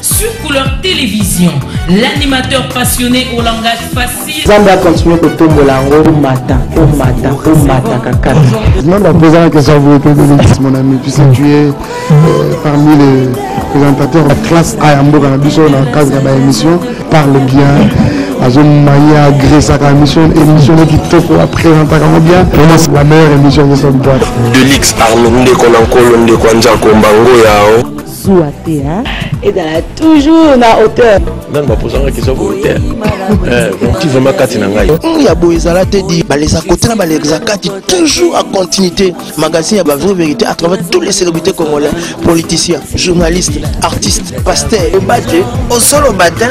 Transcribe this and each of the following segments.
Sur Couleur Télévision, l'animateur passionné au langage facile. Nzambe a continuer kotombola yango omata omata omata kakata. Non, la posé la question vous êtes ministre mon ami puisque tu es euh, parmi les présentateurs de classe A ya mboka na biso na cadre ya ba émission parle bien azomaye agresaka émission émission ne kitoko apresentaka yango bien vraiment c'est la meilleure émission de cette boîte delix arme ndeko na nkolo ndeko ya nzako mbango yao zuwa te hein ezala toujours na hauteur nani bapozanga question volontaire ti vraiment kati na ngai ya boye ezala te di balesa kote na balekisa kati toujours en continuité magazine ya bavrai vérité à travers tous les célébrités congolais politiciens journalistes artistes pasteurs loba te osoloba te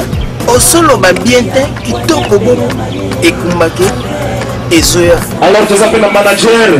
osoloba bien te kitoko bongo ekumbaki ezoya alors toza mpe na manager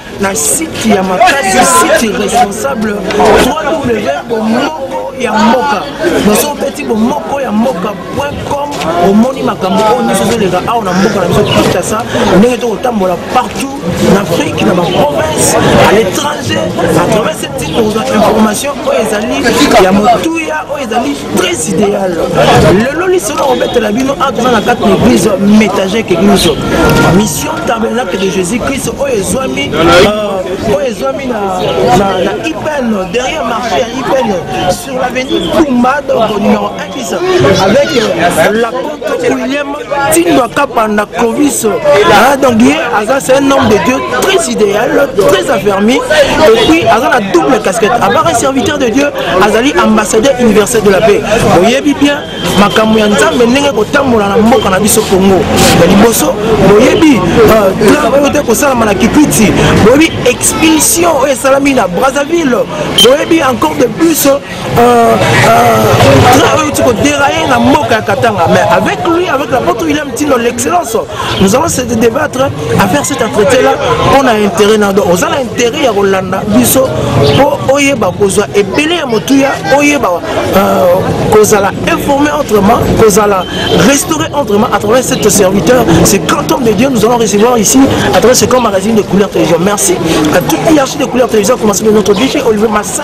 na site ya makasi site responsable ww bomoko ya mboka noso opeti bomoko ya mboka com omoni makambo oyo nyonso ezoleka awa na mboka na biso kinshasa ndenge tokotambola partout na afrique na baprovince à l'étranger à travers cette site tokozwa information oyo ezali ya motuya oyo ezali très idéal lelo liso na kobetela bino awa toza na kati na église métagèque église mission tabernacle de jésus christ oyo ezwami euh, oyo ezwami na ipen derrière marché ya ipen sur l'avenue kumba donc numéro 1 avec euh, la compte william tindo akapa na clovis ah, donc ye aza c'est un homme de dieu très idéal très affermi et puis aza na double casquette abara un serviteur de dieu azali ambassadeur universel de la paix boyebi bien makambo ya nzambe ndenge kotambola na mboka na biso congo ya liboso boyebi plan euh, oyo te kosalama na kipiti boyebi expulsion oyo esalami na brazzaville boyebi encore de plus Euh, euh, auti kodéraye na mboka ya katanga mais avec lui avec la poto william tino l'excellence nous allons se débattre à faire cet entretien là mpo na intérêt na do oza na intérêt ya kolanda biso mpo oyeba kozwa ebele ya motuya oyeba euh, kozala informé autrement kozala restauré autrement à travers cet serviteur ce grand homme de dieu nous allons recevoir ici à travers ce grand magazine de couleur télévision merci à toute l'hierarchie de couleur télévision commencé de notre dg olivier massa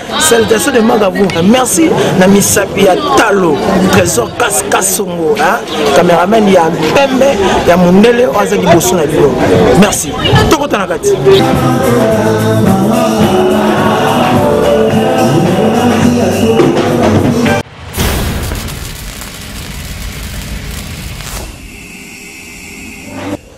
Salutations de Magabou. Merci na misapi ya talo trésor kas kasongo hein cameraman ya pembe ya mundele aza liboso na bino. Merci. Tokota na kati.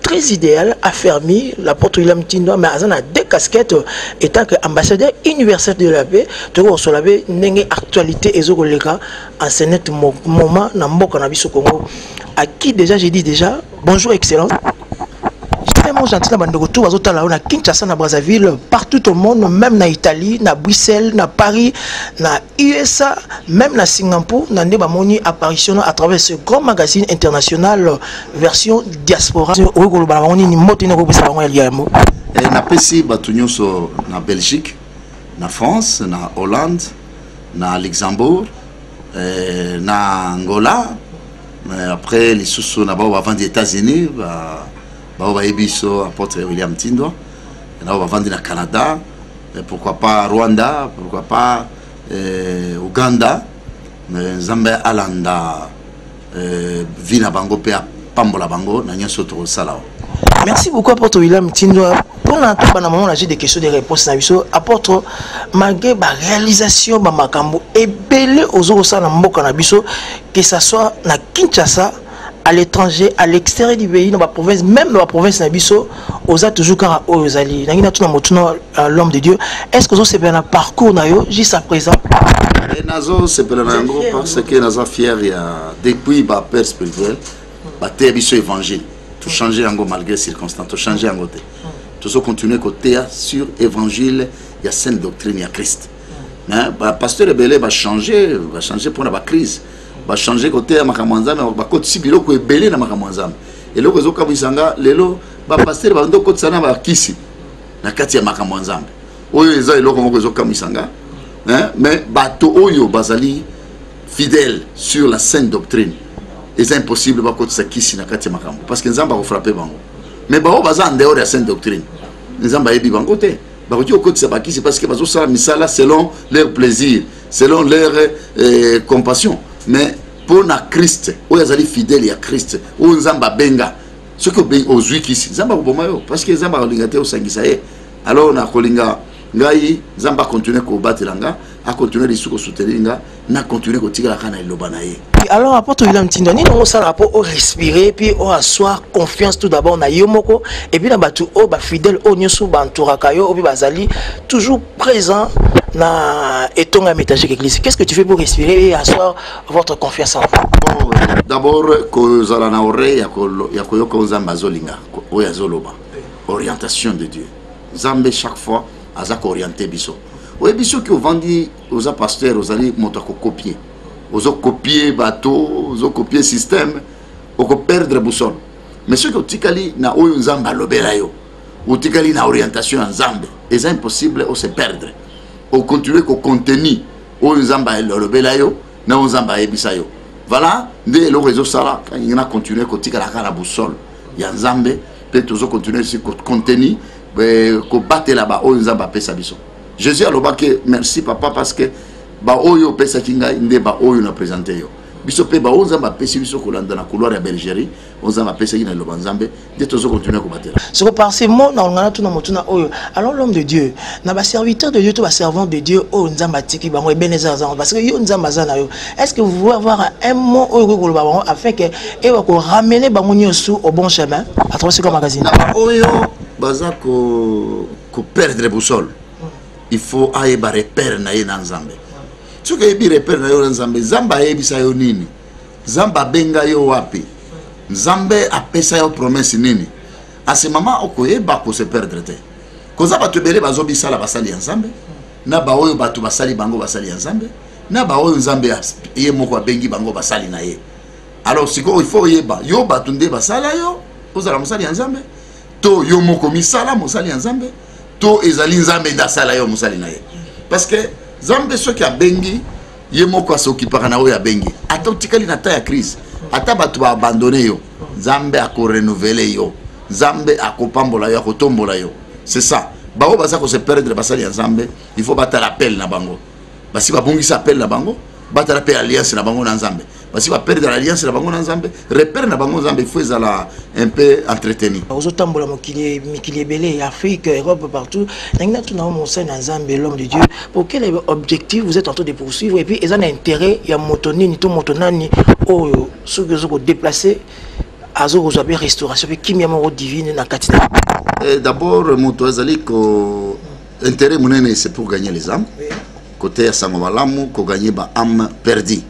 très idéal, affermi, la porte de l'amitindo, mais azana deux casquettes, étant que ambassadeur universel de la paix, tu vois, sur la paix, n'engé actualité et zogolega, en ce net moment, n'a mboka n'a biso Congo, à qui déjà j'ai dit déjà, bonjour excellent. Mon gentil na bandeko tout bazo tala na Kinshasa na Brazzaville partout au monde même na Italie na Bruxelles na Paris na USA même na Singapour na nde bamoni apparition à travers ce grand magazine international version diaspora okoki koloba na bango nini mbote nini okopesa bango ya liambo eh, napesi bato nyonso na belgique na france na hollande na luxembourg eh, na angola eh, après lisusu na bao bavandi états-unis bao bayebi biso apotre william tindwa na bao bavandi na canada pourquoi pas rwanda pourquoi pas ouganda nzambe alanda euh, vie na bango mpe apambola bango na nyonso tokosala merci beaucoup apôtre william tindwa mpona toba na mama na jeu de question de réponse na biso apôtre malgré baréalisation bamakambo ebele ozo kosala na mboka na biso que ça soit na kinshasa à l'étranger à l'extérieur du pays na baprovince même na baprovince na biso oza toujours kaka oyo ozali nangi natuna motuna euh, l'homme de dieu est ce que ozosepela na parcours na yo juste à présent eh, nazosepela na yango parce que naza fier ya depuis bapère spirituel bateya biso évangile tochange yango malgré circonstance tochange yango te tozocontinue koteya sur évangile ya sainte doctrine ya christ mais bapasteur ebele bachange bachange mpona bacrise bachange koteya makambo ya nzambe bakotisi biloko ebele na makambo ya nzambe eloko ezokamwisa nga lelo bapastere bando kotisa na bakisi na kati ya makambo ya nzambe oyo eza eloko moko ezokamwisa nga mais bato oyo bazali fidèle sur la sainte doctrine eza impossible bakotisa kisi na kati ya makambo parce que nzambe akofrape bango mais baoyo baza en dehors ya sainte doctrine nzambe ayebi bango te bakoki kokotisa bakisi parce que bazosala misala selon leur plaisir selon leur eh, compassion mais mpo na kriste oyo azali fidèle ya kriste oyo nzambe abenga soki ozwi kisi nzambe akoboma yo parce que nzambe akolinga te osangisa ye alors nakolinga ngai nzambe akontinue kobatela nga akontinue lisu kosoutenir nga nakontinue kotikalaka na liloba na ye alors apôtre william ntinda nini yango osalaka mpo orespire puis oassoir confiance tout d'abord na yo moko epuis na bato oyo bafidèle oyo nyonso bantouraka yo oyo mpe bazali toujours présent na etonga métage l'église qu'est-ce que tu fais pour respirer et asseoir votre confiance en vous oh, d'abord kozala na oreille ya koyoka oyo nzambe azolinga oyo azoloba orientation de dieu nzambe chaque fois aza kooriente biso oyebi soki ovandi oza pasteur ozali moto ya kokopie ozokopie bato ozokopie système okoperdre boussole mais soki otikali na oyo nzambe alobela yo otikali na orientation ya nzambe eza impossible ose perdre ocontinue kocontenu oyo nzambe alobela yo na oyo nzambe ayebisa yo voilà nde eloko ezosala kangi na continue kotikala kaka na boussole ya nzambe mpe tozocontinue si kocontenu eh, kobatela baoyo nzambe apesa biso jésus alobaki merci papa parce que baoyo opesaki ngai nde baoyo na présente yo biso mpe baoyo nzambe apesi biso kolanda na couloir ya belgerie oyo nzambe apesaki na liloba nzambe nde tozo continue kobatela soko par ce mot na olingana tuna motuna oyo alors l'homme de dieu na baserviteur de dieu to baservant de dieu oyo nzambe atiki bango ebene eza azango parce que yo nzambe aza na yo est ce que vous pouvez avoir un mot oyo okoki koloba bango afin ke ewa koramene bango nyonso au bon chemin à travers ce magazine na baoyo baza koperdre boussole mm. il faut ayeba repère na ye na nzambe soki ayebi repère na yo na nzambe nzambe ayebisa yo nini nzambe abenga yo wapi nzambe apesa yo promesse nini ase mama okoyeba kose perdre te koza bato ebele bazobisala basali ya nzambe na baoyo bato basali bango basali ya nzambe na baoyo nzambe ye moko abengi bango basali na ye alors sikoyo il faut oyeba yo bato nde basala yo ozala mosali ya nzambe to yo moko misala mosali ya nzambe to ezali nzambe nde asala yo mosali na ye parce que nzambe soki abengi ye moko asokipaka na oyo abengi ata otikali na temps ya crise ata bato baabandone yo nzambe akorenouvele yo nzambe akopambola yo akotombola yo c'est ça baoyo baza kose perdre basali ya nzambe il faut batala appel na bango basi babungisa appel na bango batala mpe alliance na bango na nzambe basi baperdre alliance na bango na nzambe repere na bango nzambe ifo ezala un peu entretenu ozotambola mokili mikili ebele ya afrique europe partout nangi natuna yo mosali na nzambe l'homme de dieu pour quel objectif vous êtes en train de poursuivre et puis eza na intérêt ya moto nini to moto nani oyo soki ozo kodeplace azokozwa mpe restauration mpe kimia moko divine na kati na eh, d'abord moto azali ko intérêt monene c'est pour gagner les âmes côté ya sango malamu koganye ba âme perdue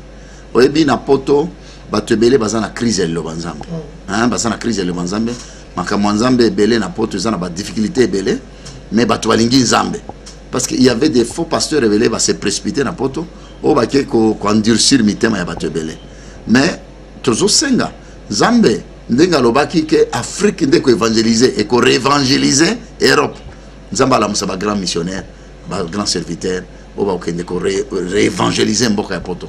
oyebi na poto bato ebele baza na crise ya liloba nzambe mm. baza na crise ya liloba nzambe makambo ya nzambe ebele na poto eza na badifficulté ebele mais bato balingi nzambe parce qu'il y avait des faux pasteurs ebele base précipité na poto oyo bake koendurcir mitema ya bato ebele mais tozosenga nzambe ndenge alobaki ke afrique nde koevangelise ekoreevangelise europe nzambe alamusa bagrand missionnaire ba grand serviteur oyo bakokende ko réévangéliser mboka ya poto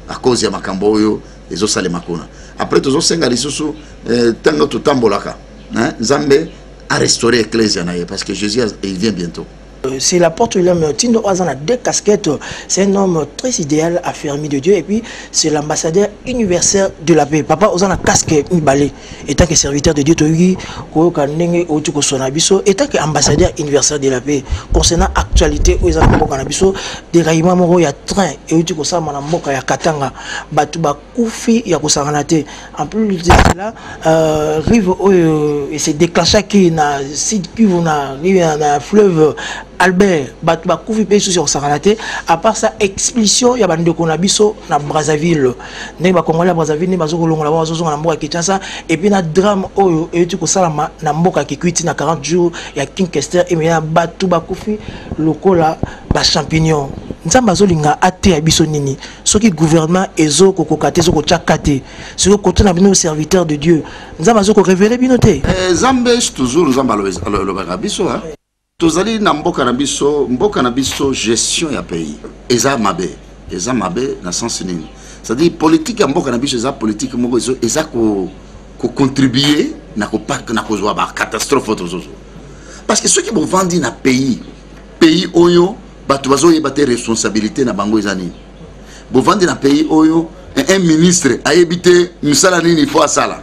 à cause ya makambo oyo ezosalema kuna après tozosenga lisusu eh, ntango totambolaka hein, nzambe a restaurer ecclesia na ye parce que jésus il vient bientôt Euh, c'est la porte de l'homme Tindo Oazan a deux casquettes. C'est un homme très idéal, affermi de Dieu. Et puis, c'est l'ambassadeur universel de la paix. Papa Ozan a casque balai. etant que serviteur de dieu toyoki koyoka ndenge outi kosona biso etant que ambassadeur universel de la paix concernant actualité oyo eza na mboka na biso deraillement moko ya train euti kosalama na mboka ya katanga bato bakufi ya kosangana te en plus de cela euh, rive oyo se déclenchaki na sud kivu na, na, na fleuve albert bato bakufi mpe lisusu ya kosangana te à part ça expulsion ya bandeko na biso na brazzaville ndenge bakongole ya brazzaville nde bazokolongola bango bazozonga na mboka kinshasa epuis na drame oyo euti kosalama na mboka kikwiti na 40 jours ya king kester emeyana bato bakufi lokola bachampignon nzambe azolinga ateya biso nini soki gouvernement ezokokoka te ezokotya ka te soki koto na bino serviteur de dieu nzambe azokorevele bino te eh, nzambe toujours nzambe alobaka biso tozali na mboka na biso mboka na biso gestion ya pays eza mabe eza mabe na sens nini c'est-à-dire politique ya mboka na biso eza politique moko eza kocontribue na kopaka na kozwa bacatastrophe oyo tozozo parce que soki bovandi na pays pays oyo bato bazoyeba te responsabilité na bango eza nini bovandi na pays oyo un ministre ayebi te misala nini fo asala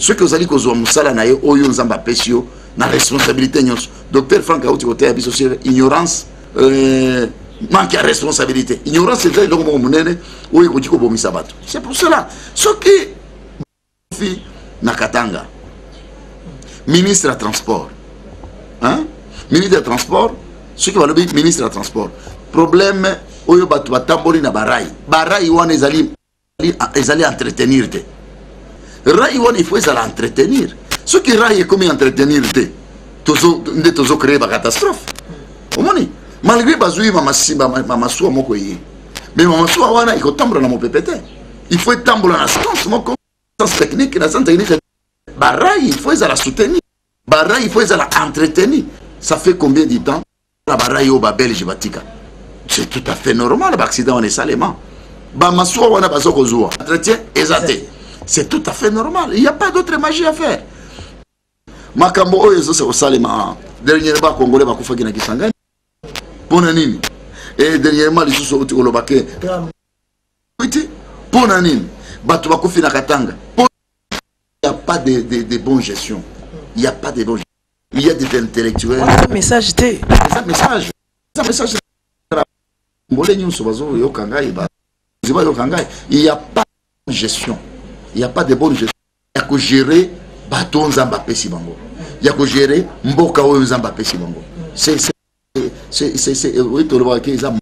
soki ozali kozwa mosala na ye oyo nzambe apesi yo na responsabilité nyonso docteur frank auti koteya biso sur ignorance euh, manque ya responsabilité ignorance eza eloko moko monene oyo ekoki kobomisa bato c'est pour cela soki na katanga ministre ya transport hein? ministre ya transport soki balobi ministre ya transport problème oyo bato batamboli na barai barai wana ezali ezali entretenir te rai wana il faut ezala entretenir soki rai ekomi entretenir te nde tozo créer bacatastrophe omoni malgré bazwi mamasuwa moko eye mais mamasuwa wana ekotambola na mopepe te il faut etambola na sens moko sens technique na sens technique barai il faut ezala soutenir barai il faut ezala entretenu ça fait combien du temps tala barayi oyo babelge batika c'est tout à fait normal baaccident wana esalema bamasuwa wana baza kozwa entretien eza te c'est tout à fait normal il y a pas d'autre magie à faire makambo oyo ezosa kosalema ah, dernièrement bakongole bakufaki na kisangani mpo na nini e dernièrement lisusu outi koloba ke iti mpo na nini bato bakufi na katanga mpo ya pas de, de, de bon gestion il y a pas de bon gestion il y a des intellectuels wana message te eza message eza message mbole nyonso bazoyoka ngai bazi bayoka ngai il y a pas gestion il y a pas de bonne gestion ya kogere bato oyo nzambe apesi bango ya kogere mboka oyo nzambe apesi bango oyo tolobaka ke eza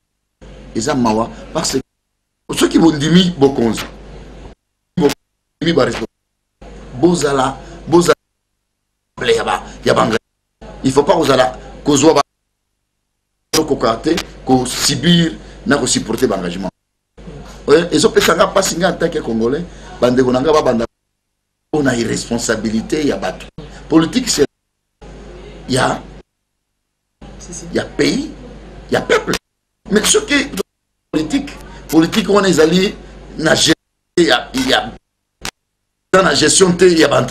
eza mawa parce que soki bondimi bokonzi bozala bozala ya ba il faut pas kozala kozwa ba okoka te kosubir na kosupporte baengagement eh, ezopesa nga mpasi nga ntake ya congolais bandeko na nga babanda mpo na irresponsabilité ya bato politique se ya ya pays ya peuple mais soki politique politique wana ezali na ya, ya eza na gestion te ya ba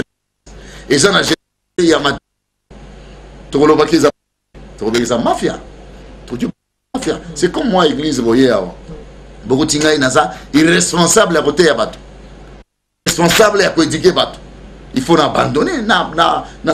eza na gestion te ya ma tokolobaki eza tokobekisa mafia tokoki mafia c'est comme moi église boye awa bokuti ngai naza irresponsable ya koteya bato responsable ya koedike bato il faut na abandonne na, na, na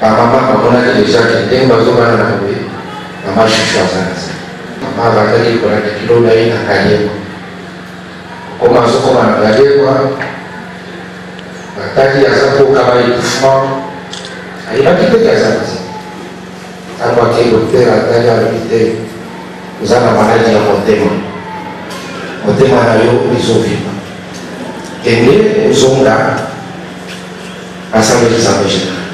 Ba mama bamonaki deja ke ndenge bazobana na boye mama shushu aza na se mama abandaki kolanda kilo na ye na kayema okoma azokoma na kayema bataki aza kokaba ekufuma ayebaki te ke aza na se ntango ake dokter atali alobi te oza na maladi ya motema motema na yo ezovima kende ozonga Asalaki zamba general.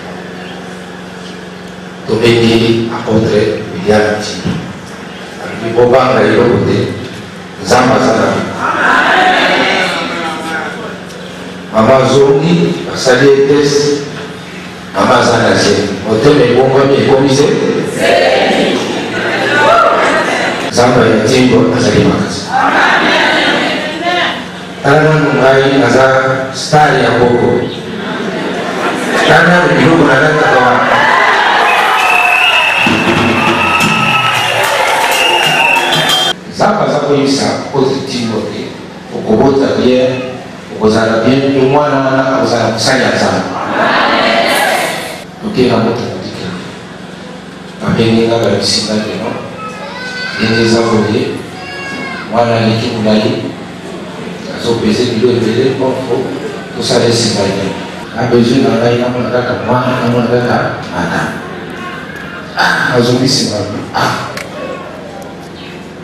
Tobengi apotre William Ntimbo. Alobi bobanga eloko te, Nzambe aza na bino. Mama azongi, basali ye test, mama aza na zemi. Motema ebongwami ekomi se? Nzambe ya Ntimbo azali makasi. Tala nanu ngai naza star ya boko. Tala nanu biloko nalataka wana. Nzambe aza koyebisa ozitingo te okobota bien okozala bien mpe mwana wana akozala mosali ya Nzambe. Tokenda moto Abengi nga balakisi nga lelo ndenge eza boye mwana aleki molai azopese bilo ebele bonfo tosala esinga ye na besoin na ngai namona kaka mwana namona kaka mata nazongi nsima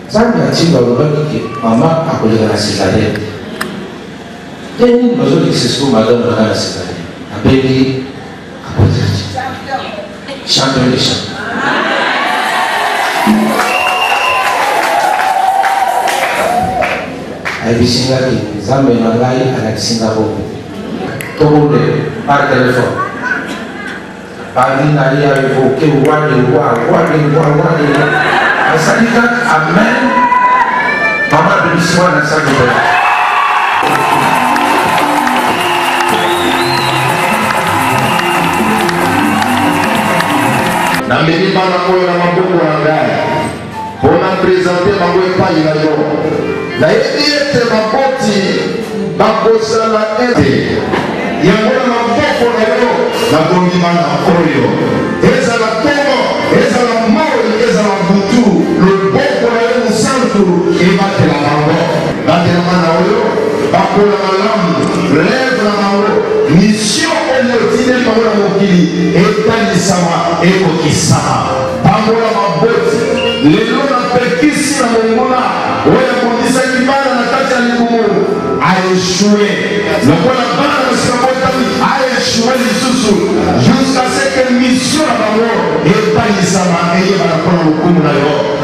nzambe atinda olobaki ke mama akoleka na cesarienne te nini bazolekisa siko madame nanga na cesarienne abengi Champion de champion. ayebisi nga ke nzambe na ngai alakisi nga bongo tobonde par telefone bandi na ye aevoke wade wa wade wa wade asali ka amen mama abimisi wana asali boye namemi bana oyo na maboko na ngai mpo na prezante bango epai na yo nayebi ete baboti bakosala ete yango na maboko na yo nakomi bana oyo ezala ntongo ezala moi ezala butu loboko na yo mosantu ebatela bango Batela bana oyo bakola malamu, reve na bango, misio oyo otindeli bango na mokili etalisama, ekokisama. Pambola baboti lelo na pekisi na monguna oyo abundisaki bana na kati ya libumu, aeshue lokola bana basi babotami, aeshue lisusu jusqu'à ce que misio na bango etalisama, eyebana mpo na lokumu na yo.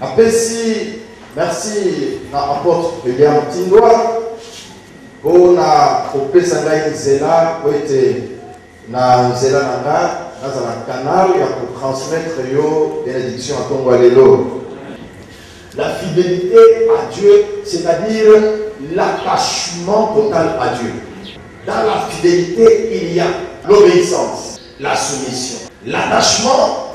Napesi merci na apotre William Tindwa mpo na kopesa ngai nzela mpo ete na nzela na nga nazala canal ya kotransmettre yo benediction ya ntongo ya lelo la fidélité à Dieu c'est-à-dire l'attachement total à Dieu dans la fidélité il y a l'obéissance la soumission l'attachement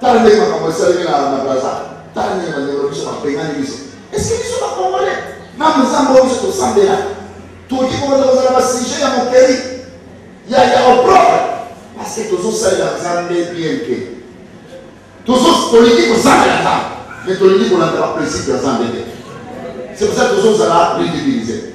Tala ndenge makambo esalemi na na Brazza. Tala ndenge bandeko na biso babengani biso. Eske biso ba Congolais na mozambo oyo biso tosambela toki kokoza kozala ba sujet ya mokeli ya ya opprobre parce que tozosalela Nzambe bien te. Tozo tolingi kosambela Nzambe mais tolingi kolanda ba principe ya Nzambe te. C'est pour ça tozozala ridiculiser.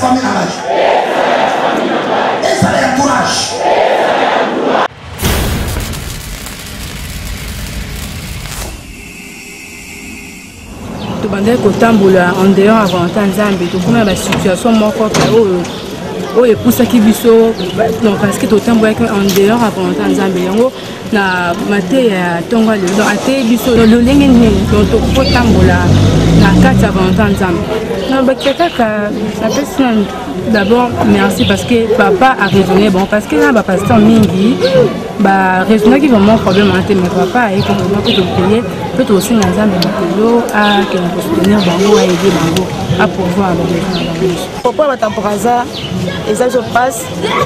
famille na ngai ezala ya courage tobandaki kotambola en dehors ya volonté ya nzambe tokoma na basituation moko pe oyo oyo epusaki biso donc parceke totambolaki en dehors ya volonté ya nzambe yango na mateya ya ntongo lelo donc ateyi biso lolenge nini donc tokoki kotambola na kati ya volonté ya nzambe nabakisa kaka napesi na d'abord merci parce que papa a raisonné bon parce que na bapasteur mingi baraisonnaki vraiment problème wana te mais papa ayeki vraiment kutu paye mpe tokosenga nzambe makolo akende kosoutenir bango ayede bango apouvoir babesoin na bango papa batamporaza eza biso passe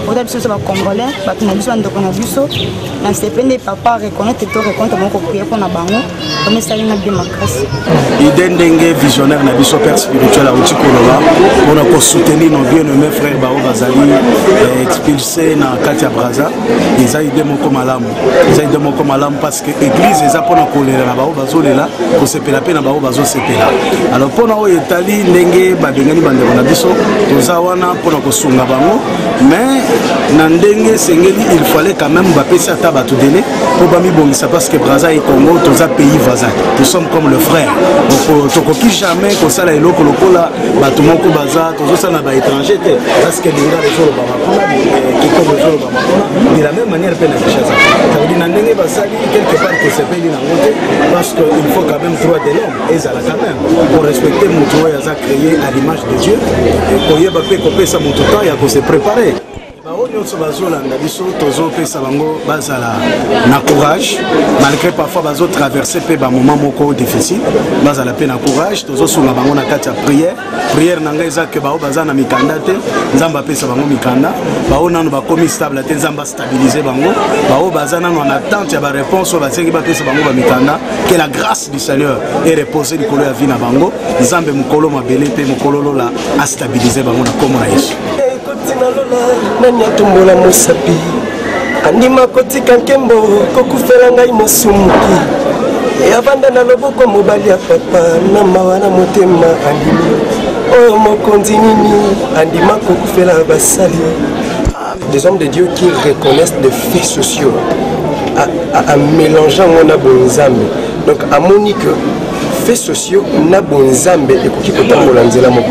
oza biso biso bacongolais bato na biso bandeko na biso na sepe nde papa reconnaitre to reconnaitre bango koprie mpo na bango yango esali na bie makasi ide ndenge visionnaire na biso père spirituel auti koloba mpona kosoutenir nos bien nomme frère baoyo bazali eh, expulse na kati ya braza eza ide moko malamu eza ide moko malamu eglise eza mpona kolela na bango bazolela kosepela mpe na bango bazosepela alors mpona oyo etali ndenge babengani bandeko na biso toza wana mpona kosunga bango mais na ndenge esengeli il fallait quand même bapesi ata bato dele mpo bamibongisa parce que braza e congo toza pays voisin nous sommes comme le frère tokoki jamais kosala eloko lokola bato moko baza tozosala na baétranger te parce que lingala ezoloba kuna kikobo ezoloba makuna de la même manière mpe na kinshasa cavedi na ndenge basali quelque part tosepeli nango te parce que il faut quand même droit de l'homme ezala quand même pour respecter moto oyo aza créé à l'image de dieu koyeba mpe kopesa moto temps ya kose préparer bango nyonso bazolanda biso tozopesa bango bazala na courage malgré parfois bazotraverse mpe bamoment moko difficile bazala mpe na courage tozosunga bango na kati ya prière prière na ngai eza ke baoyo baza na mikanda te nzambe apesa bango mikanda baoyo nano bakomi stable te nzambe astabilize bango baoyo baza nano en attente ya baréponse oyo basengi bapesa bango bamikanda ke la grâce du seigneur e repose likolo ya vie na bango nzambe mokolo mabele mpe mokolo lola astabilize bango na nkombo na yesu nani atombola mosapi andima kotika nkembo kokufela ngai mosumuki yavanda na loboko mobali ya papa na mawa na motema andimi oyo oh, mokonzi nini andima kokufela basali des hommes de dieu qui reconnaissent des faits sociaux à mélanger yango na bonzambe donc amoni que faits sociaux na bonzambe ekoki kotambola nzela moko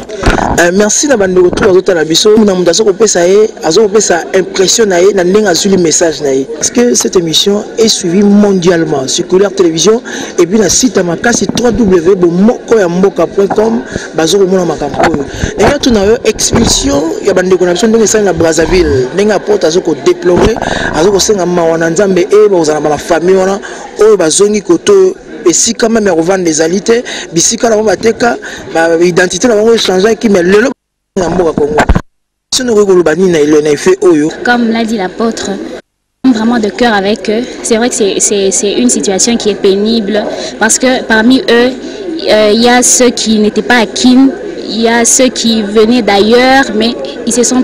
Euh, merci na bandeko tout bazotala biso na moto aza kopesa ye aza kopesa impression na ye na ndenge azwili message na ye parce que cette émission est suivie mondialement sur couleur télévision et puis na site ya makasi www bomoko ya mboka com baza komona makambo oyo enge tuna yo expulsion ya bandeko na biso ndenge esali na brazzaville ndenge apote aza kodeplore aza kosenga mawa na nzambe e bakozala na bana famille wana oyo bazongi koto esika meme ya kovanda ezali te bisika na bango bateka baidentité na bango echangeaki mais lelo na mboka kongo soki okoki koloba nini na eloi na efe oyo comme l'a dit l'apôtre vraiment de cœur avec eux c'est vrai que c'est une situation qui est pénible parce que parmi eux il euh, y a ceux qui n'étaient pas à Kin il y a ceux qui venaient d'ailleurs mais ils se sont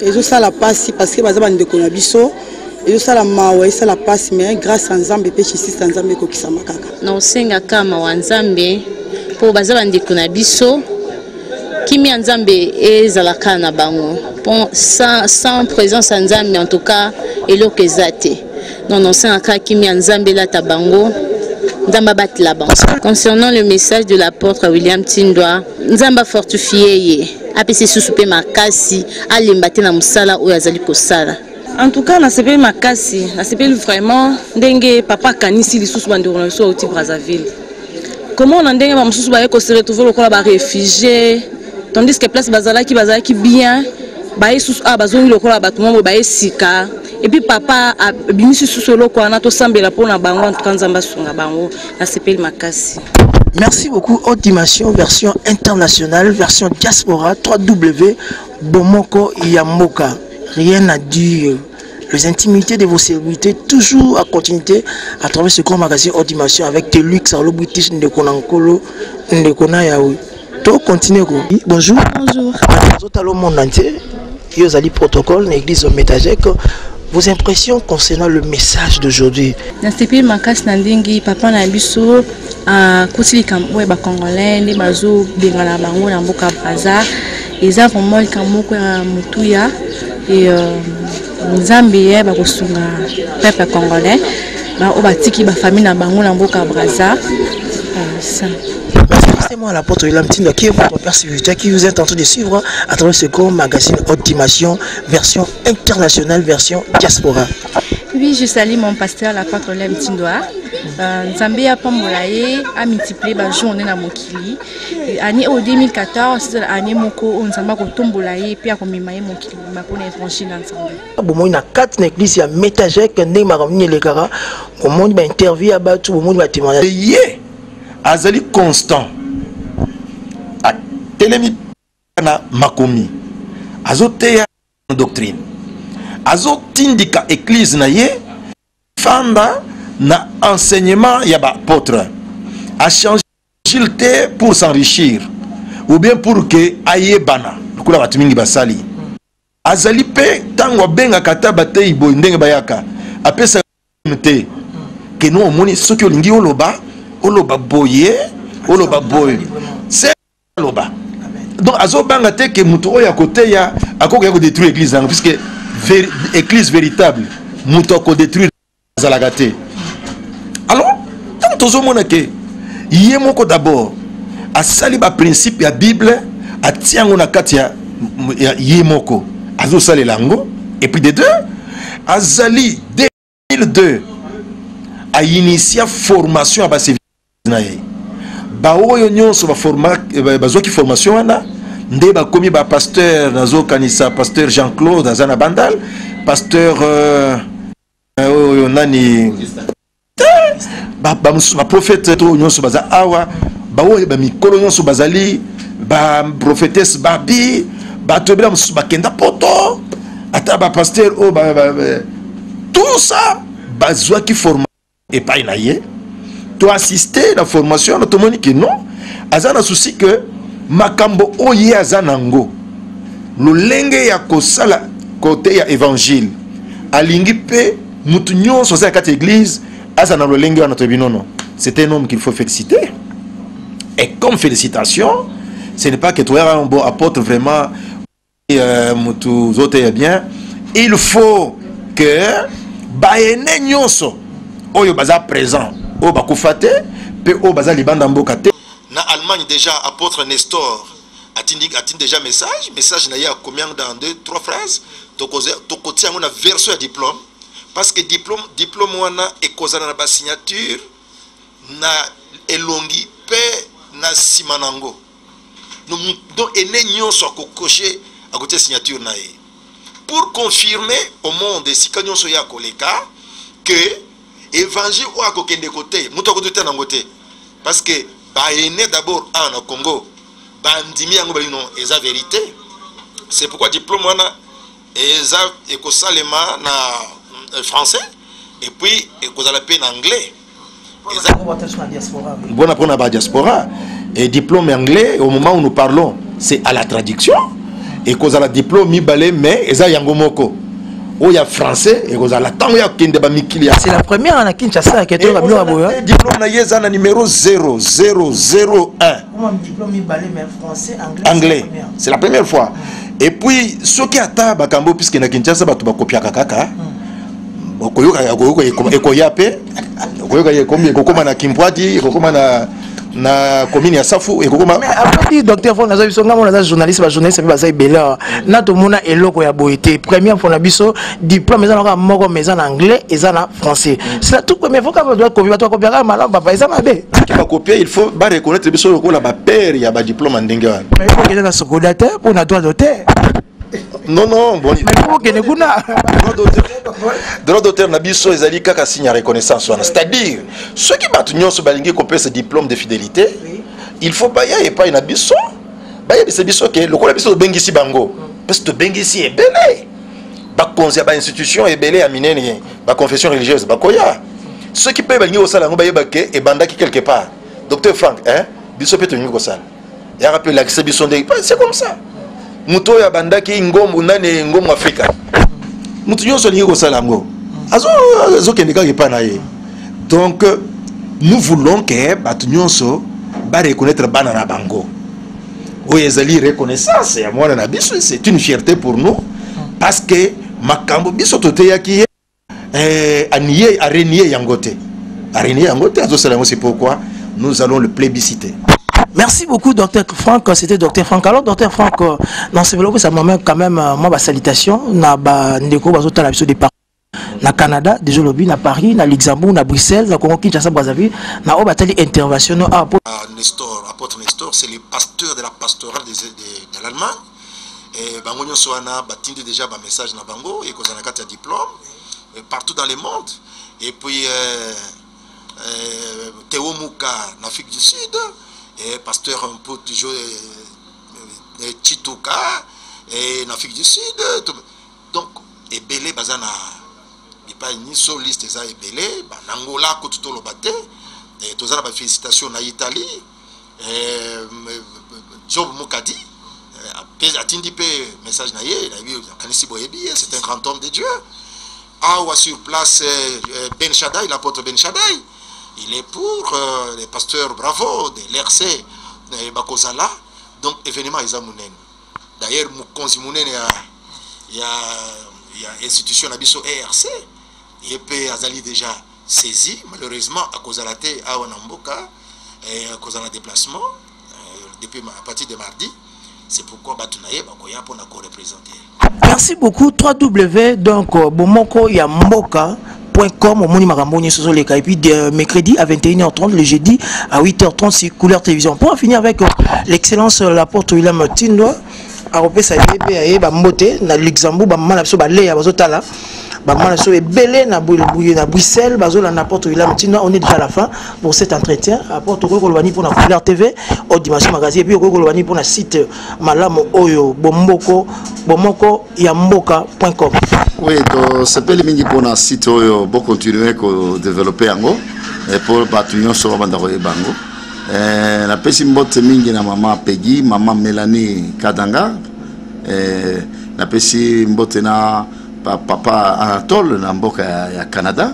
ezosala pasi parce que baza bandeko na biso ezosala mawa esala pasi mais grâce ya nzambe mpe justice ya nzambe ekokisama kaka na osengaka mawa nzambe mpo baza bandeko na biso kimia nzambe ezalaka na bango mpo sans, sans présence ya nzambe en tout cas eloko eza te Non, non, c'est un cas qui met Nzambe là tabango. Nzamba batela bango. Concernant le message de l'apôtre William Tindwa, Nzamba fortifier ye, apesi susu pe makasi, alemba te na musala oyo azali kosala. En tout cas, nasepeli makasi, nasepeli vraiment ndenge papa akanisi lisusu bandeko na biso auti Brazzaville. komona ndenge bamosusu baye kose retrouve lokola barefugie tandis que place bazalaki bazalaki bien baye susu awa ah, bazongi lokola bato moko baye sika epuis papa abimisi susu eloko wana tosambela mpo na bango antuka nzambe asunga bango nasepeli makasi Merci beaucoup. Haute dimension, version internationale, version diaspora, 3W, Bomoko Yamboka. Rien à dire. les intimités de vos serviteurs, toujours à continuité à travers ce grand magazine hors dimension avec tes luxe, alo british, ndeko na nkolo, ndeko na yaoui. To continuer ko. Bonjour. Bonjour. Zota le monde entier. Yo zali protocole na église au Metajek. Vos impressions concernant le message d'aujourd'hui. Na sepeli makasi na ndenge papa na biso akoti likambo oyo ba congolais nde bazo bengana bango na mboka Brazza. eza vraiment likambo moko ya motuya e euh, nzambe ye bakosunga peuple congolais baoyo batiki bafamille na bango na mboka braza ça c'est moi la porte de l'âme Tinder qui est votre père spirituel qui vous est en train de suivre à travers ce grand magazine Haute Dimension, version internationale, version diaspora. Oui, je salue mon pasteur, la porte de l'âme Tindoa. Euh, Nzambe apambola ye, a multiplier ba journée na mokili. année oyo 2014 ezala année moko oyo nzambe akotombola ye mpe akomema ye mokili mobimba mpo na évangile ya nzambe bomoni na kati na eglise ya metagek ndenge makambo nini elekaka bomoni bainterview ya bato bomoni batémoignage ye azali constant atelemi na makomi azoteya doctrine azotindika eglise na ye fanda na enseignement ya baapotre achange S'il te pour s'enrichir ou bien pour que ayebana lokola bato mingi basali azali mpe ntango abengaka ata bateyi boye ndenge bayaka apesa te ke no omoni soki olingi oloba oloba boye oloba boye se aloba donc azobanga te ke moto oyo akoteya akokoya kodétruire église yango puisque église véritable moto akodétruire ezalaka te alors ntango tozomona ke ye moko d'abord asali baprincipe ya bible atia yango na kati ya, ya ye moko azosalela yango epuis de deux azali 2002 ainitia formation ya baservice na ye baoyo nyonso eh, bazwaki formation wana nde bakomi bapasteur nazokanisa pasteur jean claude aza na bandal pasteur euh, euh, oyo nani bamosusu baprofete to nyonso baza awa baoyo bamikolo nyonso bazali baprofetese babi bato ebela mosusu bakenda poto ata bapaster oyo tout ça bazwaki forma epai na ye to assister na formation wana tomoni ke non aza na souci ke makambo oyo ye aza nango lolenge ya kosala kote ya evangile alingi mpe motu nyonso aza na kati ya eglise aza na lolenge wana toyebi nono c'est un homme qu'il faut féliciter et comme félicitation ce n'est pas que toyaka bon apôtre vraiment euh, mutu zote ya bien il faut que baene nyonso oyo baza présent oyo bakufa te mpe oyo baza libanda mboka te na allemagne déjà apôtre nestor atindi atindi déjà message message na ye akomi yango dans deux trois phrases tokotia yango na version ya diplôme parce que diplôme diplôme wana ekozala na basignature na elongi mpe na nsima na yango donc ene nyonso akokoshe akotia signature na ye pour confirmer au monde esika nyonso ye akoleka que évangile oyo akokende kote moto akotuta nango te parce que baene d'abord awa na congo bandimi yango balino eza verité c'est pourquoi diplôme wana eza ekosalema na euh, français et puis ekozala mpe na anglais mpona mpona badiaspora et diplôme anglais au moment où nous parlons c'est à la traduction ekozala diplôme mibale mais eza yango moko oyo ya français ekozala ntango ya kokende bamikili c'est la première na kinshasa yake toyoka biloko boyo diplôme na ye eza na numero 0001 anglais c'est la première fois et puis soki ata bakambo puisque na kinshasa bato bakopiaka kaka hmm. okoyokaka okoyoka ekoya mpe okoyoka ekomi ekokoma na kimpwadi ekokoma na na commune ya safu ekokoma apesi docteur fo naza biso ngai mona aza journaliste bajournaliste mpe baza ebele awa na tomona eloko ya boye te première mpo na biso diplôme eza na kaka moko mais eza na anglais eza na français c'est la toute première fois kaka doit copier bato bakopia kaka malamu papa eza mabe bakopia il faut ba reconnaître biso lokola ba père ya ba diplôme ndenge wana mais il faut kende na sokoda te mpo na droit d'auteur non non bon mais pour kende kuna droit d'auteur na biso ezali kaka signe ya reconnaissance wana c'est à dire soki bato nyonso balingi kopesa diplôme de fidélité il faut baya epai na biso bayebisa biso ke lokola biso tobengisi bango parce que tobengisi ebele bakonzi ya bainstitution ebele ya minene baconfession religieuse bakoya soki mpe balingi kosala yango bayeba ke ebandaki quelque part docteur frank eh? biso mpe tolingi kosala yaka mpe elakisa biso nde c'est comme ça moto oyo abandaki ngombo nani ngombo afrika moto nyonso alingi kosala yango azokende kaka epai na ye donc nous voulons ke bato nyonso bareconnaitre bana na bango oyo ezali reconnaissance ya mwana na biso c'est une fierté pour nous parce que makambo biso toteyaki ye eh, anie arenie yango te arenie yango te azosala yango c'est pourquoi nous allons le plébisciter Merci beaucoup, docteur Franck. C'était docteur Franck. Alors, docteur Franck, euh, dans ce vlog, ça m'a quand même, euh, moi, ma salutation, na ba ndeko, bazotala biso des parents. na canada deja olobi na paris na luxembourg na bruxelles na congo kinshasa brazzaville na oyo batali intervention no awa ah, ah, nestor apôtre nestor c'est le pasteur de la pastorale de, de, de l'allemagne eh, bango nyonso wana batindi déjà bamessage na bango ekozala na kati ya diplôme eh, partout dans le monde et puis euh, euh, teo muka na afrique du sud eh, pasteur un peu toujours eh, eh, chituka eh, na afrique du sud tout, Donc ebele baza na bipai nyinso liste eza ebele ba na Angola kutu toloba te eh, toza na ba félicitation na Italie eh, Job Mukadi eh, atindi mpe message na ye nayebi nakanisi boyebi ye c'est un grand homme de Dieu awa sur place eh, eh, Ben Shaddai l'apôtre Ben Shaddai il est pour euh, les pasteurs bravo de l'RC eh, bakozala donc événement eza monene D'ailleurs mokonzi monene ya ya ya institution na biso ERC ye mpe azali déjà saisi malheureusement akozala te awa na mboka eh, akozala na déplacement eh, depuis à partir de mardi c'est pourquoi bato na ye bakoya mpo na korepresente merci beaucoup 3w donc euh, bomoko ya mboka com omoni makambo nyonso ezoleka et puis de euh, mercredi à 21h30 le jeudi à 8h30 sur couleur télévision pour en finir avec euh, l'excellence euh, la porte William Tindo akopesa ye mpe ya ye bambote na luxembourg bamama na biso baleya bazotala bamama na biso ebele na bruxelles bazolanda porte william tina on est déjà à la fin pour cet entretien apporte okoki koloba nini mpona couleur tv au dimension magazine epuis okoki koloba nini mpona site malamu oyo bomboko bomoko ya mboka point com oui tosepeli mingi mpona site oyo bokontinue kodevelope yango eh, mpo bato nyonso babanda koyeba yango eh, napesi mbote mingi na mama pegi mama melanie kadanga eh, napesi mbote na papa anatole na mboka ya canada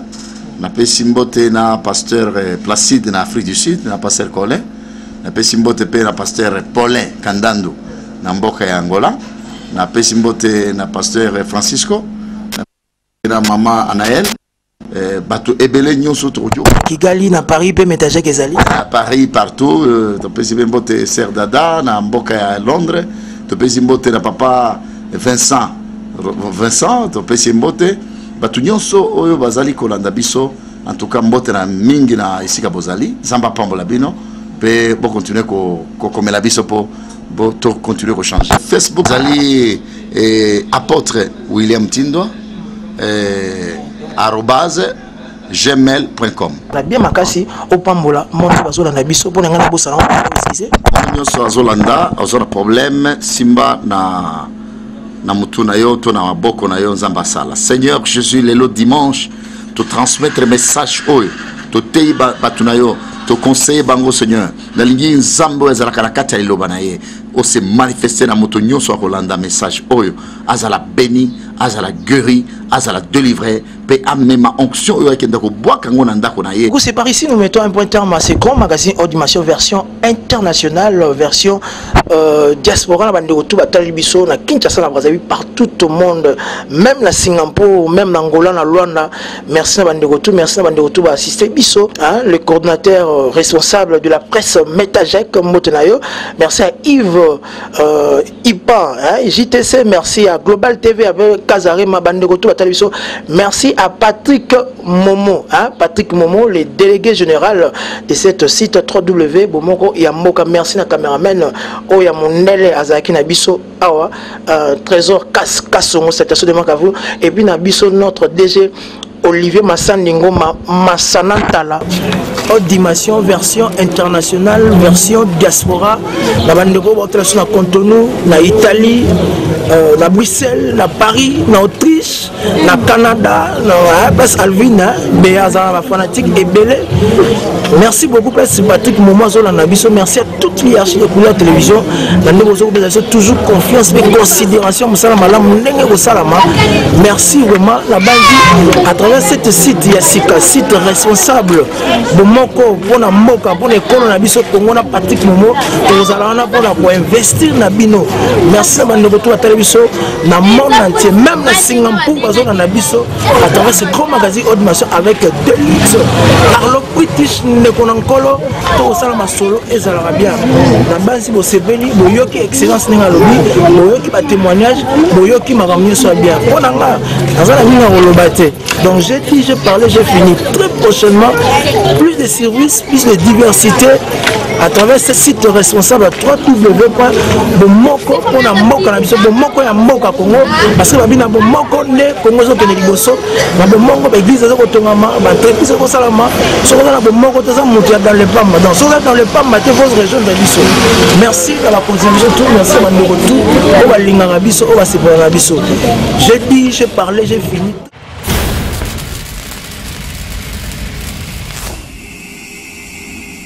napesi mbote na pasteur placide na afrique du sud na pasteur colin napesi mbote mpe na pasteur paulin kandando na mboka ya angola na pesi mbote na pasteur francisco na mama anael eh, bato ebele nyonso tokoki kigali na paris mpe metajek ezali na paris partout euh, topesi mpe mbote ser dada na mboka ya londres topesi mbote na papa vincent vincent topesi mbote bato nyonso oyo bazali kolanda biso en tout cas mbote na mingi na esika bozali nzambe apambola bino mpe bokontinue kokomela ko biso mpo bo to continuer ko changer facebook zali eh, apôtre william tindwa eh, arobase gmail.com bien makasi opambola monde bazolanda biso mpo na ngai nabosana précise monde nyonso azolanda aza na problème simba na na motu na yo to na maboko na yo nzambe asala seigneur jésus lelo dimanche totransmettre message oyo toteyi bato na yo toconseille bango seigneur nalingi nzambe oyo azalaka na kati ya liloba na ye ose manifeste na moto nyonso akolanda message oyo azala beni azala gueri azala delivre mpe amema onction oyo akenda kobwaka yango na ndako na ye c'est par ici nous mettons un point terme à ce grand magazine audimatio version internationale version euh, diaspora na bandeko tu batali biso na kinshasa na brazzaville partout au monde même na singapour même na angola na luanda Merci na bande tout, merci na bande tout ba assister biso, hein, le coordinateur euh, responsable de la presse Metajec Motenayo. Merci à Yves euh, Ipan, hein, JTC, merci à Global TV avec Kazarema bande tout ba biso. Merci à Patrick Momo, hein, Patrick Momo, le délégué général de cette site www.bomoko Yamoka. Merci na cameraman Oya Mondele Azaki na biso. awa euh, trésor kasongo citation de makavu et puis na biso notre dg olivier masandi ngoma masana ntala haute dimension version internationale version diaspora na bandeko bautela so na contenu na italie euh, na bruxelles na paris na autriche na canada na eh, place alvine eh, be aza na bafanatique ebele merci beaucoup place patrick momo azolanda biso merci à toute l'hierarchie de couleur télévision na ndenge ozokopesa biso toujours confiance mpe considération mosala malamu ndenge ekosalama merci vraiment nabangi à travers cette site ya sika site responsable bomoko mpona mboka mpona ekolo na biso kongo na patrick momo tokozala wana mpona koinvestir na bino merci na bandeko to batali biso na monde entier même na singampur bazolanda biso à travers ce grand magazine audition avec deux luxe arlo british ndeko na nkolo to kosala masolo ezalaka bien na basi bosepeli boyoki excellence ndenge alobi boyoki batémoignage boyoki makambo nyonso ya bien mpo na nga naza na mingi ya koloba te donc j'ai dit j'ai parlé j'ai fini très prochainement plus de services plus de diversité à travers ce site responsable ya 3 w point bomoko mpo na mboka na biso bomoko ya mboka kongo parce que babi na bomoko nde kongo ezokende liboso na bomoko baeglise eza kotongama baentreprise ekosalama soki oza na bomoko te eza moto ya dans le pamba donc soki oza dans le pamba te vos région eza biso merci na bakonzi na biso tout merci na bandeko tout oyo balingaka biso oyo basepelaka biso j'ai dit j'ai parlé j'ai fini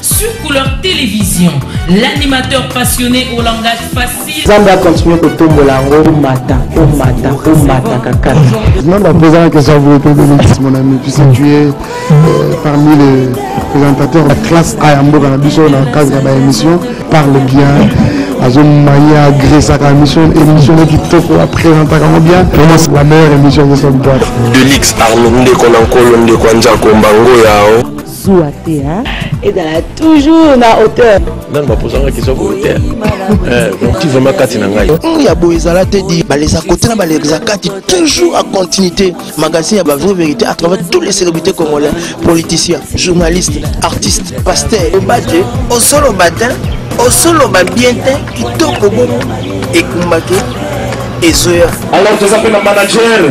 Sur Couleur Télévision, l'animateur passionné au langage facile. Nzambe a continuer kotombola yango omata omata omata kaka. Non, la présence que ça vous était donné, mon ami, tu sais, tu es euh, parmi les présentateurs de classe A en Boga, dans le cadre de la émission, parle bien. azomaye agresaka émission émission ne kitoko apresentaka ngo bien vraiment c'est la meilleure émission de cette boîte delix arlo ndeko na nkolo ndeko ya nzako mbango yao zuwa te hein ezala toujours na hauteur nani bapozanga question volontaire ti vraiment kati na ngai oyo ya boye ezala te di balesa kote na balekisa kati toujours a continuité magasin ya bavrai vérité à travers tous les célébrités congolais politiciens journalistes artistes pasteurs obate osoloba te osoloba bien te kitoko bongo ekumbaki ezoya alors toza mpe na manager